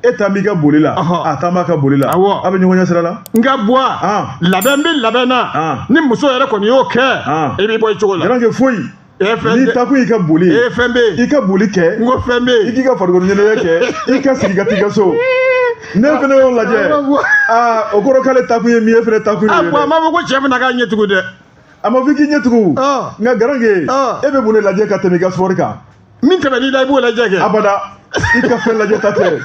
[SPEAKER 1] e ta b'i ka boli la Ɔhɔ. a ta b'a ka boli la Awɔ. a bɛ ɲɔgɔn ɲɛ sira la nka buwa
[SPEAKER 2] Ah. labɛn bɛ labɛn na Ah. ni muso yɛrɛ kɔni y'o kɛ Ah. i b'i bɔ i cogo la garankɛ foyi
[SPEAKER 1] e fɛn n'i taakun y'i ka boli ye e fɛn bɛ yen i ka
[SPEAKER 2] boli kɛ n ko
[SPEAKER 1] fɛn bɛ yen i k'i
[SPEAKER 2] ka farikolo ɲɛnajɛ
[SPEAKER 1] kɛ i ka sigi ka t'i ka so ne fana y'o lajɛ aa o kɔrɔ k'ale taakun ye min ye e fana taakun ye o ye dɛ. a ko a ma fɔ ko cɛ
[SPEAKER 2] bɛna k'a ɲɛ tugun dɛ a ma fɔ i k'i
[SPEAKER 1] ɲɛ tugun nka garankɛ e bɛ mun de lajɛ ka tɛmɛ i ka sport kan min tɛmɛn'i la i
[SPEAKER 2] b'o lajɛ kɛ abada i
[SPEAKER 1] ka fɛn lajɛ ta tɛ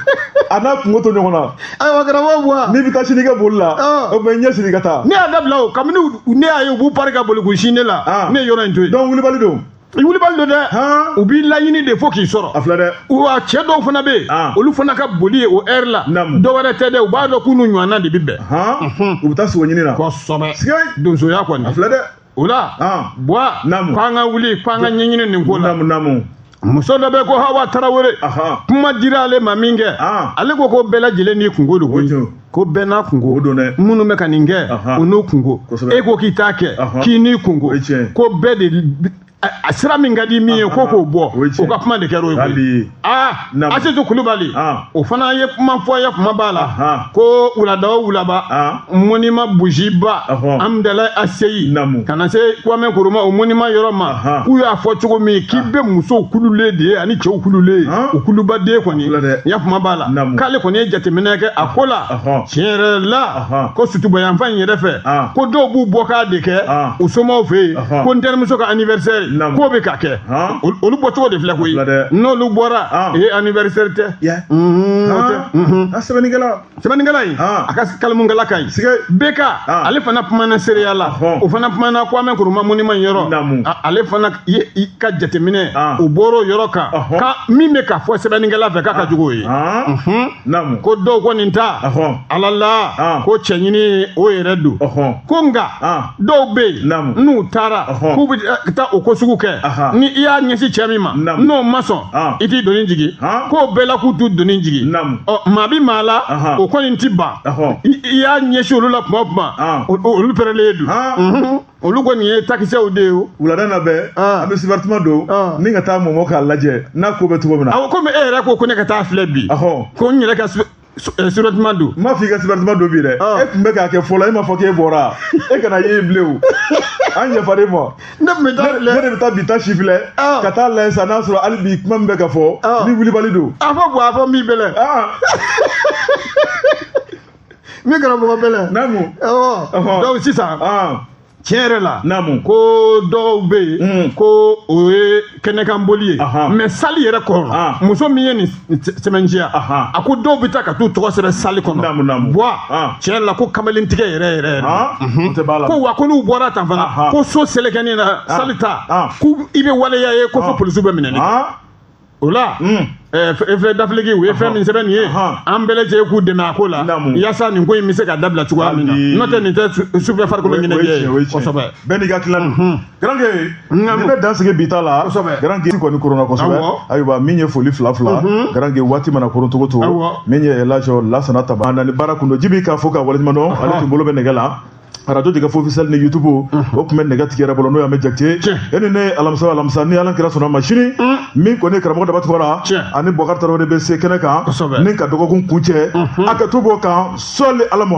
[SPEAKER 1] a n'a kunko to ɲɔgɔn na ayiwa karamɔgɔ
[SPEAKER 2] buwa n'i bɛ taa sini i ka boli
[SPEAKER 1] la o bɛ ɲɛ siri ka taa ne y'a dabila o kabini
[SPEAKER 2] ne y'a ye u b'u pari ka boli k'u sin ne la ah. ne ye yɔrɔ in to yen donc wulibali don
[SPEAKER 1] wulibali don
[SPEAKER 2] dɛ u b'i laɲini de fo k'i sɔrɔ a filɛ dɛ wa
[SPEAKER 1] cɛ dɔw
[SPEAKER 2] fana bɛ yen ah. olu fana ka boli ye o heure la dɔ wɛrɛ tɛ dɛ u b'a dɔn k'u n'u ɲɔgɔnna de bɛ bɛn u bɛ taa sogo ɲini na
[SPEAKER 1] kosɛbɛ
[SPEAKER 2] donsoya kɔni a filɛ dɛ o
[SPEAKER 1] la
[SPEAKER 2] ah. buwa ko an ka wuli ko an ka ɲɛɲini nin ko la muso dɔ bɛ ko hawa tarawele kuma dira ale ma min kɛ ah. ale ko ko bɛɛ lajɛlen n'i kunko don koyi ko bɛɛ n'a kunko minnu bɛ ka nin kɛ o n'u kunko e ko k'i t'a kɛ k'i n'i kunko ko bɛɛ de a sira min ka di min ye ko k'o bɔ o ka kuma de kɛra o ye koyi aa Naamu. asitu kulubali Ɔn. o fana ye kuma fɔ ya kuma b'a la Ɔnhɔn. ko wulada o wulaba Ɔn. monument bougieba Ɔhɔn. hamdallaye ACI Naamu. ka na se kwame nkrumah o monument yɔrɔ ma Ɔnhɔn. k'u y'a fɔ cogo min k'i bɛ musow kululen de ye ani cɛw kululen ye Ɔn. o kuluba de kɔni Kula dɛ. ya kuma b'a la Naamu. k'ale kɔni ye jateminɛ kɛ a ko la Ɔhɔn. tiɲɛ yɛrɛ la Ɔhɔn. ko sotuba yanfan in yɛrɛ fɛ Ɔn. ko dɔw b'u bɔ k'a de kɛ Ɔn. u somaw fɛ yen Ɔhɔn. ko n terimuso ka anniversaire Naamu. k'o bɛ ka kɛ Han. Ol- olu bɔ cogo de filɛ koyi Filɛ dɛ. n'olu bɔra Han. ee anniversaire tɛ Yɛ. Mhm, o tɛ. Mhm. Ah, sɛbɛnnikɛla. sɛbɛnnikɛla in Han. a ka kalimukala ka ɲi Sige. bk Han. ale fana kumana seereya la Ɔhɔn. o fana kumana kwame nkrumah monument yɔrɔ Naamu. A- ale fana ye i ka jateminɛ Han. o bɔr'o yɔrɔ kan Ɔhɔn. kan min bɛ ka fɔ sɛbɛnnikɛla fɛ k'a ka jugu o ye Han. Mhm. naamu ko dɔw kɔni ta ɔhɔn ala la Ah. ko cɛ ɲini ye o yɛrɛ don ɔhɔn ko nka Ah. dɔw bɛ yen Naamu. n'u taara Ɔhɔn. k'u bɛ eh, taa o ko sugu kɛ Aha. ni i y'a ɲɛsin cɛ min ma Naamu. n'o ma sɔn Ah. i t'i doni jigin Ah. k'o bɛɛ la k'u t'u doni jigin naamu ɔ maa bɛ maa la Aha. o kɔni tɛ ban ɔhɔn i i y'a ɲɛsin olu la tuma o tuma Ah. o- o- olu pɛrɛlen don Ah. Mhm. olu kɔni ye takisɛw de ye o. wulada na bɛɛ.
[SPEAKER 1] an bɛ sibarituma don. ni ka taa mɔmɔ k'a lajɛ n'a ko bɛ cogo min na. awɔ komi e yɛrɛ ko ko ne ka
[SPEAKER 2] taa filɛ bi. ɔhɔn. ko n yɛrɛ ka sibarituma eh, don. n m'a fɔ i ka sibarituma don
[SPEAKER 1] bi dɛ. e tun bɛ k'a kɛ fɔlɔ e m'a fɔ k'e bɔra e kana ye bilen o. an yafar'i ma. ne tun bɛ taa filɛ. ne de bɛ taa bi ta si filɛ. ka taa lajɛ sa n'a sɔrɔ hali bi kuma min bɛ ka fɔ. ni wulibali don. a fɔ bɔn a fɔ min bɛ
[SPEAKER 2] lɛ. min karamɔgɔ bɛlɛ naamu ɔwɔ Ɔhɔn. donc sisan ɔn tiɲɛ yɛrɛ la naamu ko dɔw bɛ yen Mm. ko o ye kɛnɛkanboli ye Ahan. mais sali yɛrɛ kɔnɔ Ah. muso min ye nin nin sɛ- sɛbɛn ci yan Ahan. a ko dɔw bɛ taa ka t'u tɔgɔ sɛbɛn sali kɔnɔ Naamu, naamu. bɔn Ah. tiɲɛ yɛrɛ la ko kamalentigɛ yɛrɛ yɛrɛ yɛrɛ ɔn o de b'a la ko wa ko n'u bɔra tan fana Ahan. ko so selekenin na sali ta Ah. ko i bɛ waleya ye ko fo Ah. polisiw bɛ minɛni kɛ. ɔn o la fɛn dafiliki u ye fɛn min sɛbɛn nin ye an bɛɛ lajɛlen k'u dɛmɛ a ko la yaasa nin ko in bɛ se ka dabila cogoya min na n'o tɛ nin tɛ sufɛ farikolo ɲɛnajɛ ye kosɛbɛ bɛɛ n'i ka tilan don
[SPEAKER 1] garanke nin bɛ dan sigi bi ta la garanke kɔni koronna kosɛbɛ ayiwa min ye foli fila fila garanke waati mana koron cogo cogo min ye laji lasana taba ani baara kun don jibi k'a fo k'a waleɲuman dɔn ale tun bolo bɛ nɛgɛ la arajo jɛkafɔ officiel ni youtube o tun bɛ nɛgɛtigi yɛrɛ bolo n'o y'an bɛ jakite ye ani ne alamisa alamisa ni ala n'a kira sɔnn'a ma sini min kɔni karamɔgɔ daba tunkara ani bɔkari tarawele de bɛ se kɛnɛ kan ni ka dɔgɔkun kuncɛ a ka to b'o kan sɔli ala